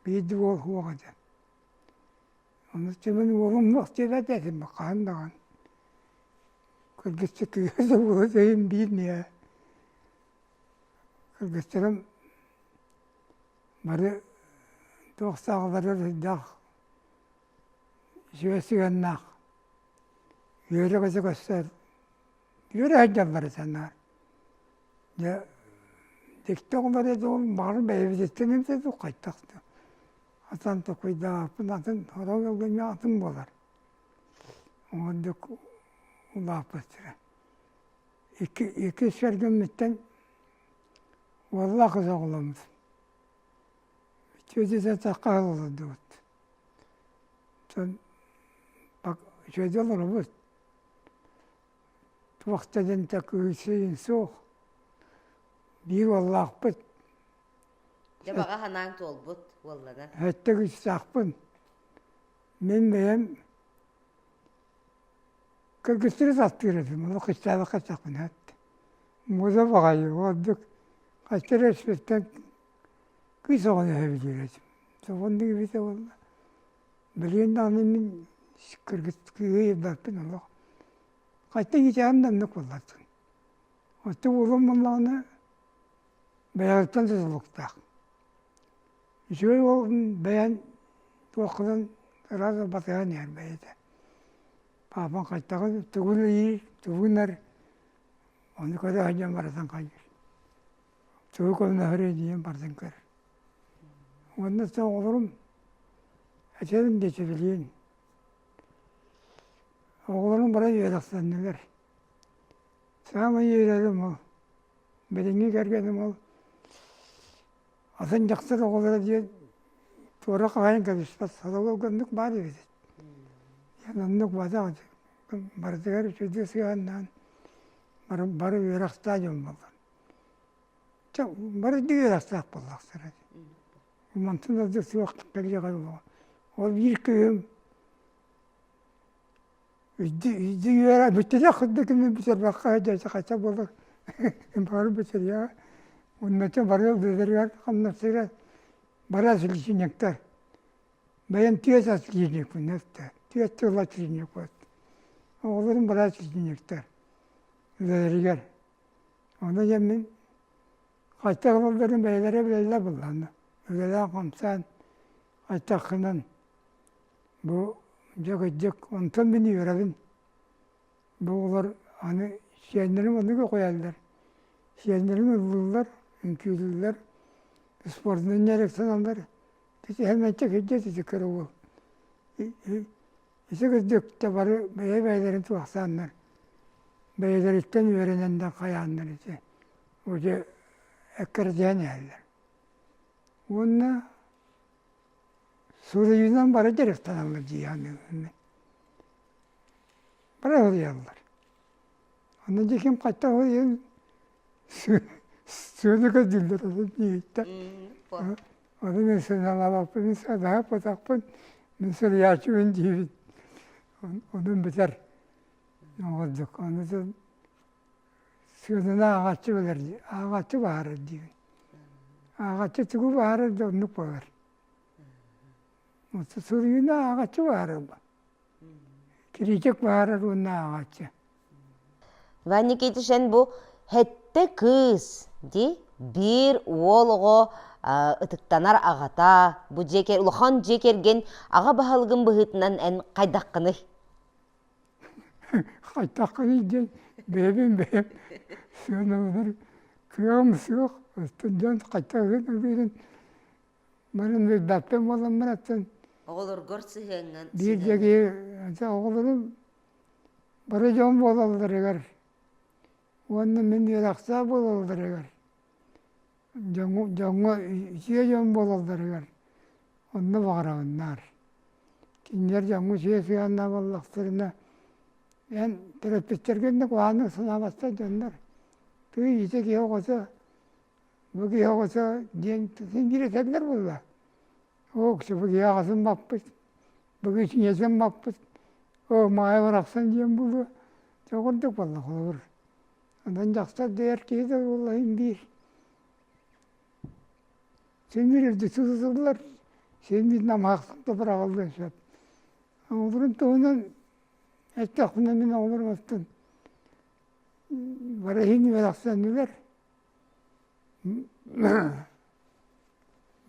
биирдии уол суоҕа диэн ону тимин уолум мах диэбэт этим хаһан даҕаны кыргысчыт кыыһы да уола өйүм биир ньиээ Кыргыстарым бары туох саалаларыгар сырдаах, үчүгэй сыһыаннаах, үөрэ-көтө көстөр, үөрэ сылдьаллар санаар. Дьэ дьикти оҕом эрэ дьолун баҕарар бэйэбититтэн эмтэтик хайдах да атан токуйдаахпын атын сорох кэмҥэ атын буолар. Ол ордук улааппыттара. иккис сэргэммиттэн уоллаах кыз оҕоломмут үтүөтэ-сатахха олордубут дьон үтүөтэ олоробут туох да дэнтэ кыысыйын суох биир уоллаахпыт дьэ баҕа санааҥ туолбут уоллана өттө кыстаахпын мин бэйэм Кыргыстары састыыраппын олох кыстаабакка эттэхпинэ эт муода баҕайы ол ордук хайта эрэ испиттэн кыыс оҕону эһэбитигэр этим сомоҕоннук эбитэ уонна билигин даҕаны мин кыргыс кыыһы ирбэппин олох хайта иҥичэҕим да оннук буоллардын оттон уолум буоллаҕына бэйэҕиттэн тутулуктаах үчүгэй уолун бэйэн туох гынан ыраах батыһан иһэр бэйэтэ паапан хайтаҕын тугун ыйыы тугунар ону көрө сылдьан барытын хайыр тугу көрөнөһөрө диэн барытын көр уонна сэ оҕолорум этэрин диэчи билиин оҕолорум бары үөрэхтэннилэр саамай үөрэрим ол билиҥҥи кэргэним ол Атын дьахтар оҕолоро диэн туора хаһаайын кэбиспэт сороҕор оннук баар эбит. Диэн оннук бадах барытыгар үчүгэйдик сыһыаннаан бары бары үөрэхтаах дьон буоллар. Чэ бары үрдүк үөрэхтээх буоллахтара. Мантан ордук суох кэлиэҕэ дуо? Ол биир кыһым үөрэ бүттүнэ ханна кимин бүтэрбэххэ дьэдьэ хотя буолар бары бүтэрэ уонна ити бары үлэлэригэр хамнастыыра бара личинниктар бэйэм түөрт ас клиникпыннар да түөрт тыла клиникпыт оҕолорум бары клиниктар үлэлэригэр ону ийэм мин хайдах ылалларын бэйэлэрэ билэллэр буоллаҕына үлэлээх хамсаан хайдаххынан Бу дьэ кырдьык онтон мин үөрэбин. Бу олор аны сиэннэрим ону үөҕэллэр. Сиэннэрим ыллыыллар, үҥкүүлүүллэр, спордунан дьарыктаналлар. Ити мэнчэ кырдьык ити кыругу. Ити кырдьык да бары бэйэ-бэйэлэрин туһахтааннар, бэйэлэриттэн үөрэнэннэр хайааннар ити бу дьэ эккирэтиһэн иһэллэр. Уонна Суруйуунан бары дьарыктаналлар дьиэҕэ бары суруйаллар. Ону дьэ ким хайдах суруйуон сыана көрдүүллэр ону дьиэттэн ону мин сыаналаабаппын мин сыаналаабатахпын мин суруйааччыбын диибин онон битэр оҕолдьук ону дьон Сыананы ааҕааччы билэр дии, ааҕааччы баһарар диибин. Ааҕааччы тугу баһарар да оннук буолар. Суруйууну ааҕааччы баһарар бу. Кириитик баһарар уонна ааҕааччы. Ван Никитич эн бу хэттэ кыыс дии биир уол оҕо ытыктанар аҕата, бу дьиэ улахан дьиэ кэргэн аҕа баһылыгын быһыытынан эн хайдаххыный? Хайтаххыный диэн бэйэбин бэйэм сыаналанар кыаҕым суох устун дьон хайта гынабын баран билбэппин буолан бараттан оҕолоргор сыһыаҥҥын биир дьиги оҕолорум бары дьон буолалларыгар уонна мин үөрэхтээх буолалларыгар дьоҥҥо дьоҥҥо үчүгэй дьон буолалларыгар онно баҕараҕын наар кинилэр дьоҥҥо үчүгэй сыһыаннаах буоллахтарына эн төрөппүттэргэ иннэ куһаҕаннык санаабаттар дьоннор тыый ити киһи оҕото бу киһи оҕото диэн тутун биэрэтэллэр буолла уксу бу киһи аҕатын баппыт бу киһи сиҥэтин баппыт оо маайа барахсан диэн буолуо чоҕурдук буолла холобур Онон дьахтар дэйэр киһи да буолла иһин биир симирилди сытытыллар симир намаахтан тупураҕаллыан сөп оҕолорун туһунан эттэхпинэ мин оҕолорбуттан бары иһин үөрэхсэннилэр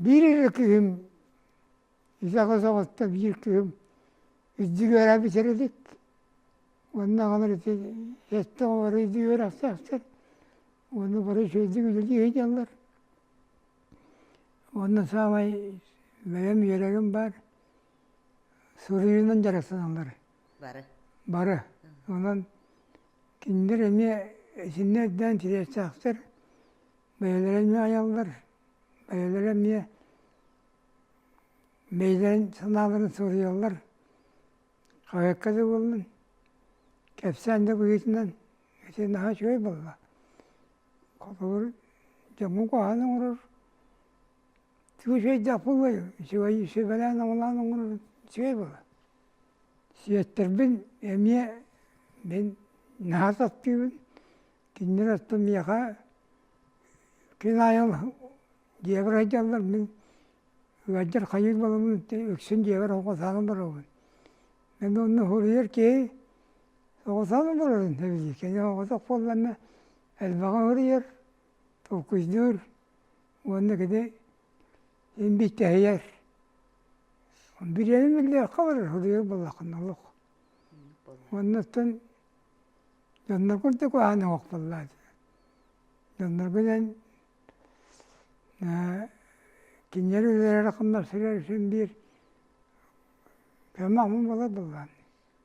биир эрэ киһим Ити аҕыс оҕоттон биир кыым итди үөрэ бүтэр илик. Уонна аҕалар ити сэттэ оҕолоро итди үөрэхтээхтэр. Уонна бары үчүгэйдик үлэлии ыйдаллар. Уонна саамай бэйэм үөрэрим баар суруйуунан дьарыктаналлар. Бары. Бары. Онон кинилэр эмиэ итиннэ ирдээн тириэртээхтэр. Бэйэлэрэ эмиэ айаллар. Бэйэлэрэ эмиэ бэйэлэрин санааларын суруйаллар хаһыакка да буоллун кэпсээн да быһыытынан ити наһаа үчүгэй буолла холобур дьоҥҥун куһаҕан оҥорор тугу үчүгэйдээх буолуой үчүгэй сүбэлээн оҥолоон оҥорор үчүгэй буолла сиэттэрбин эмиэ мин наһаа таптыыбын кинилэр оттон миэхэ күн аайы Дьиэбэр айдьаллар мин ыалдьар хайыыр баламмын үксүн дьиэбэр оҕо саанан барабын. Эн уонна суруйар киһи оҕо саанан барарын сөбүлүүр. Кини оҕотох буоллаҕына элбэҕи уруйар, толкуйдуур уонна кини имбииттэһийэр. Бириэмэ биллиэххэ барар суруйар буоллаххына олох. Уонна оттон дьоннор курдук аһаныах буоллаҕа. Дьоннорго диэн Кинилэр үлэлэрэ-хамнастара үчүн биир көмө-амма буолар буоллаҕа.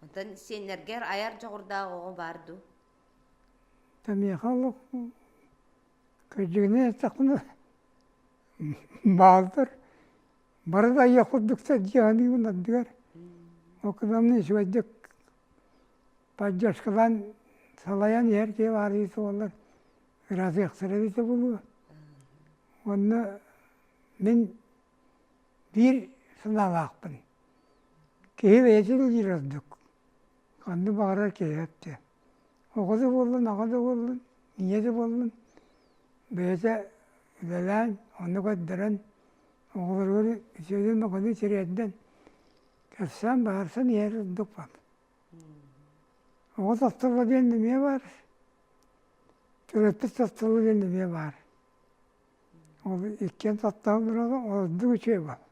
Оттон сиэннэргэр айар дьоҕурдаах оҕо баар дуу? Миэхэ олох кырдьыгынан эттэхпинэ бааллар. Бары да айыах курдук дьиэ аныыбын ардыгар. Ол кытта үчүгэйдик Поддержкалаан салайан иһэр киһи баарыйыы суоллар ыраатыахтара эбитэ буолуо. Уонна мин биир санаалаахпын. Киһи бэйэтин диир ордук. Ханна баҕарар киһи өттө. Оҕо да буоллун, аҕа да буоллун, ийэ да буоллун, бэйэтэ үлэлээн, онно көрдөрөн, оҕолоругар үтүөнэн-махтанан сириэрдэн, кэпсээн, баһарсан иһэр ордук баал. Оҕо састабыллыан эмиэ баар, төрөппүт састабыллыан эмиэ баар. Ол иккиэн састаан туралла, ордук үчүгэй буол.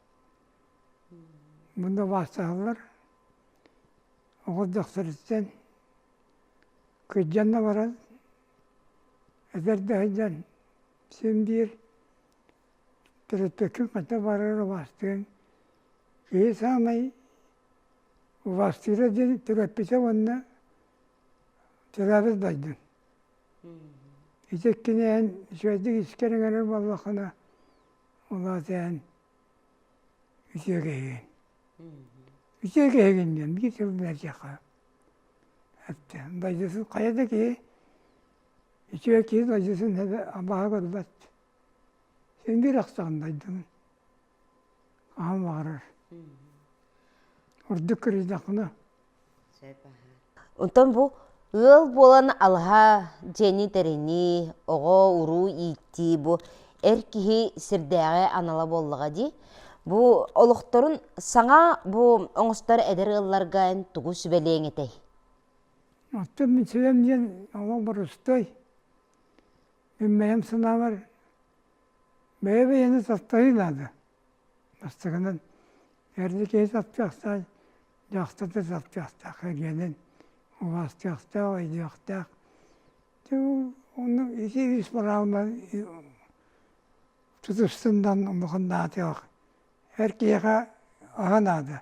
Мунна убаастаһаллар. Оҕо дьахтарыттан кыдьан да баран, эдэр да сылдьан син биир Төрөппөккүн хата барар убаастыаҥ, киһи саамай убаастыыра диэн төрөппүтэ уонна төрөөбүт дойдун. Ити иккинээн үчүгэйдик искэр иҥэрэр буоллаххына, ол аатыан үтүө киһигин. Үтүө киһигин диэн биир тыл бэрдиэххэ. Дойдутун хайа да киһи, үтүө киһи дойдутун эбэ абааһы көрбөт. Син биир ахсаан дайдыбын хаһан баҕарар ордук көрүстэхпинэ Онтон бу ыал буолан алаһа дьиэни тэринии, оҕо-уруу ииттии бу эр киһи сирдээҕи анала буоллаҕа дии. Бу олохторун саҥа бу оҥостор эдэр ыалларга эн тугу сүбэлиэҥ этэй? Оттон мин сүбэм диэн олох борустуой. Мин бэйэм санаабар, бэйэ-бэйэни таптайыы наада. Бастакынан, эрдэ киһи таптыахтаах, дьахтар да таптыахтаах, эргэнэн убаастыахтаах, өйдүөхтээх. Оннук ити ис бырааһынан тутуспунан улахан наадалаах. Эр киһиэхэ аһы наада.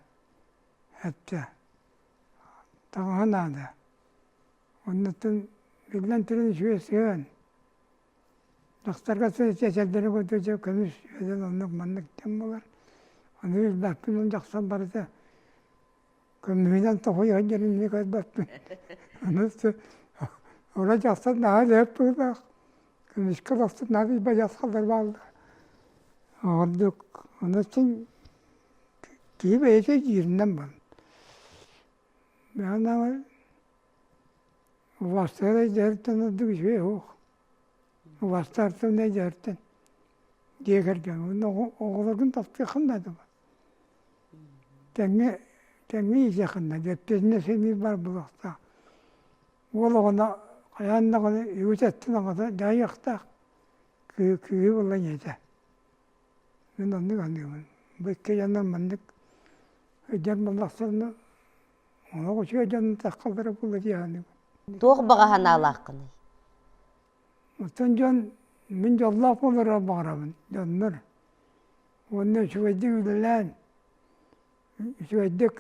Эттэ. Таҥаһы наада. Оннуттан биллэн туран үс ыан. Тахтарга сыл чэчэрдэри көрдө көмүс үөдэл оннук маннык тэҥ буолар. Аны үс-бэспин он дьахсар барыта көмүһүнэн тоһуйан дьэринни көрбөппүн. Ону Ола дьахсар наһаа лээп быылаах. Көмүскэ тахсан наадый бадьас халлар баалла. Ордук ону чин киһи бэйэтэ дииринэн бан. Бэҕэнэҕэ убастыгар эдьиийэриттэн ордук үчүгэй суох убастаартан эдьиийэриттэн дьиэ кэргэҥҥэ уонна оҕолоргун таптыаххын наада тэҥҥэ тэҥҥэ иитиэххин наада эппиэтинэсинии бар буолуохтаах уол оҕону хайаан даҕаны үгүс эттин аҕата дьайыахтаах кыыһы кыыһы булан ийэтэ Мин оннук аныыбын, бу икки дьоннор маннык сылдьар буоллахтарына, олох үчүгэй дьонун таххалара буолла дии саныыбын. Туох баҕа санаалааххыный? Оттон дьон мин дьоллоох буоларга баҕарабын дьоннор уонна үчүгэйдик үлэлээн, үчүгэйдик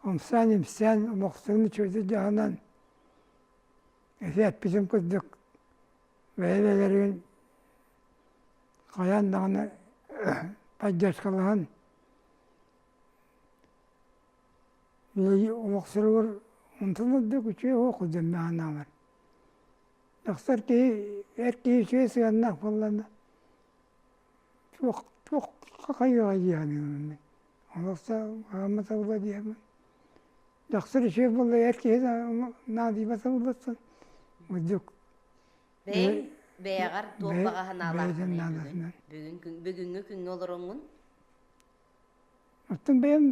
ымсаан-имсээн олохтуун үчүгэйдик дьаһанан, эти эппитим курдук бэйэ-бэйэлэрин хайаан даҕаны поддержкалаһан омохсуругар мунтунар да үчүгэй уоку дэммэҕинааҕар тахсар киһи эр киһи үчүгэй сыаннаах буоллаҕына туох хайыаҕа дии саныыбын мин Олохтоох аама табыла диэбин. Дьахтар үчүгэй буоллар киһи наадыйба табылбаттан мындык Бэйэҥ бэйэҕэр туох баҕа санаалаах бүгүҥҥү күҥҥэ олороҥҥун? Оттон бэйэм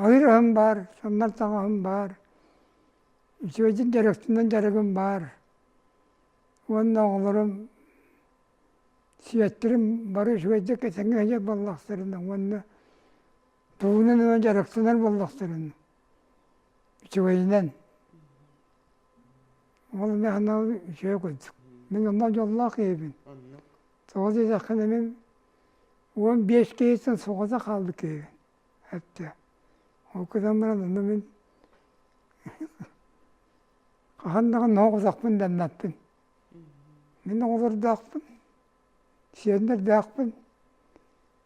айыр аһым баар, соннор таҥаһым баар, үчүгэйдик дьарыктанан дьарыгым баар. Уонна оҕолорум Сиэттэрим бары үчүгэйдик этэҥҥэ иһэ буоллахтарына уонна тугунан ыла дьарыктанар буоллахтарына үчүгэйинэн. Ол эмиэ анал үчүгэй курдук. Мин онно дьоллоох киһибин. Тоҕо диэтэххинэ мин уон биэс киһиттэн соҕото хаалбыт киһибин. Эттэ. Ол гынан баран онно мин хаһан даҕаны оһох утахпын даннаппын. Мин оҕолордоохпун, сиэннэрдээхпин,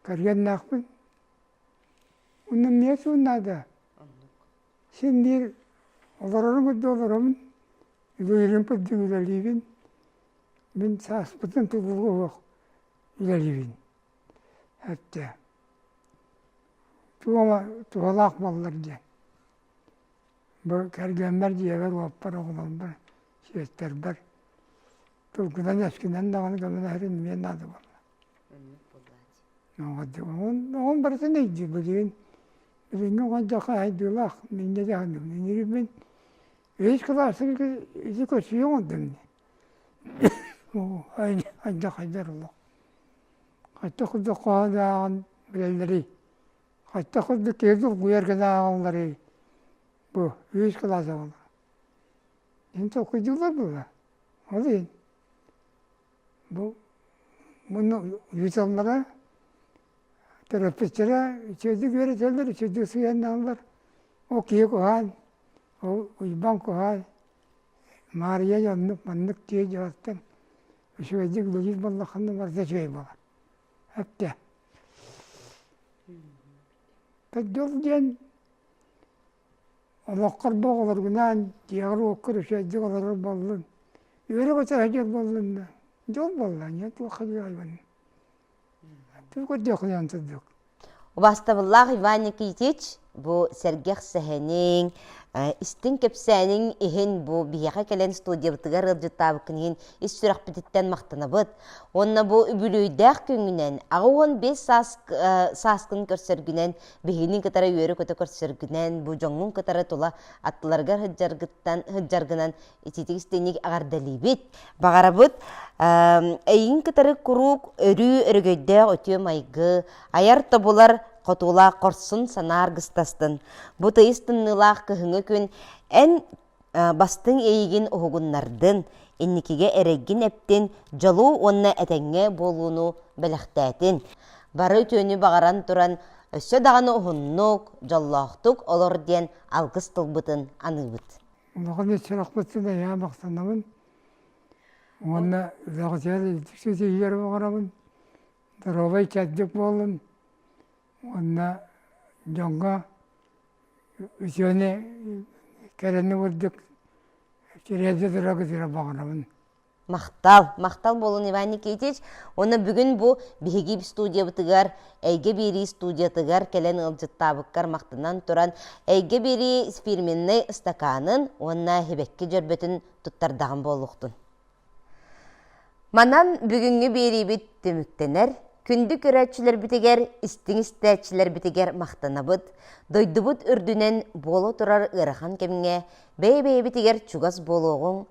кэргэннээхпин. Уну эмиэ суун наада. Син биир олороруҥ да олоробун, үлэлииримпит да үлэлиибин. Мин сааспытын тутууга олох үлэлиибин. Эттэ. Туома, туһалаах баллар диэн. Бу кэргэммэр дьиэбэр уолпар, оҕолорбор, сиэттэрбэр тылгынан-өскүнэн даҕаны кэлэн иһэрин наада буолла. Оҕом барытын өйдүүр билигин билиҥҥи оҕо хайдыылаах инньэ дьаһанныбын инирибин үһүс кылааска ити көрсүһүө оҥордум ди хайдах хайдар олох хайдах курдук хоһооннааҕын билэллэрий Хайтах курдук киһи долгуйар гына ааҕалларый бу үһүс кылаас оҕолоро ин толкуйдууллар буолла ол иһин бу муну ыыталлара төрөппүттэрэ үчүгэйдик үөрэтэллэр үчүгэйдик сыһыаннааллар ол киһи куһаан ол уйбаан куһаан маарыйа оннук маннык дьиэ дьаһалтан үчүгэйдик үлэлиир буоллаххына барыта үчүгэй буолар эптэ Тойдук диэн олоххор да оҕолоргунаан дьиэҕэр-уоккар үчэйдик олорор буоллун, үөрэ-көтө сылдьар буоллун да, дьол буолла, аны туох хадыйалбын. Тугу көрдөххүнэн сырдык. Убастабыллаах Иван Никитич, Бу сэргэх сэһэниҥ, истиҥ кэпсээниҥ иһин бу биһиэхэ кэлэн студиябытыгар ыалдьыттаабыккын иһин ис сүрэхпититтэн махтанабыт. Уонна бу үбүлүөйдээх күҥҥүнэн аҕа уон биэс сааскын көрсөргүнэн, биһигини кытары үөрэ-көтө көрсөргүнэн, бу дьоҥҥун кытары тула аттыларыгар сылдьаргынан ититик-истиник эҕэрдэлиибит, баҕарабыт эйин кытары куруук өрүү өрөгөйдөөх үтүө майгы, айар тобулар хотуулаах хорсун санаа аргыстастын. Бу тыйыс тымныылаах кыһыҥҥы күн эн бастыҥ эйигин уһугуннардын, инникигэ эрэггин эптин, дьолу уонна этэҥҥэ буолууну бэлэхтээтин. Бары үтүөнү баҕаран туран өссө даҕаны уһуннук, дьоллоохтук олор диэн алгыс тылбытын аныыбыт. Улахан сырахпытын эйээн махтанабын уонна бэҕэсэйэр үрдүк ситиһиилэр оҥоробун доруобай кэрдик буоллун уонна дьоҥҥо үтүөнү кэрэни курдук кириэдэ тура көтүрэ баҕарабын Махтал, махтал буолун Иван Никитич. Уонна бүгүн бу биһиги студиябытыгар, Эйгэ биэрии студиятыгар кэлэн ыалдьыттаабыккар махтанан туран, Эйгэ биэрии спирминнэй ыстакаанын уонна һибэкки дьөрбөтүн туттардаҕым буолуохтун. Манан бүгүҥҥү биэриибит түмүктэнэр. Күндү көрөөччүлэрбитигэр, истиҥ-истээччилэрбитигэр махтанабыт. Дойдубут үрдүнэн буола турар ыарахан кэмҥэ бэйэ-бэйэбитигэр чугас буолуоҕуҥ,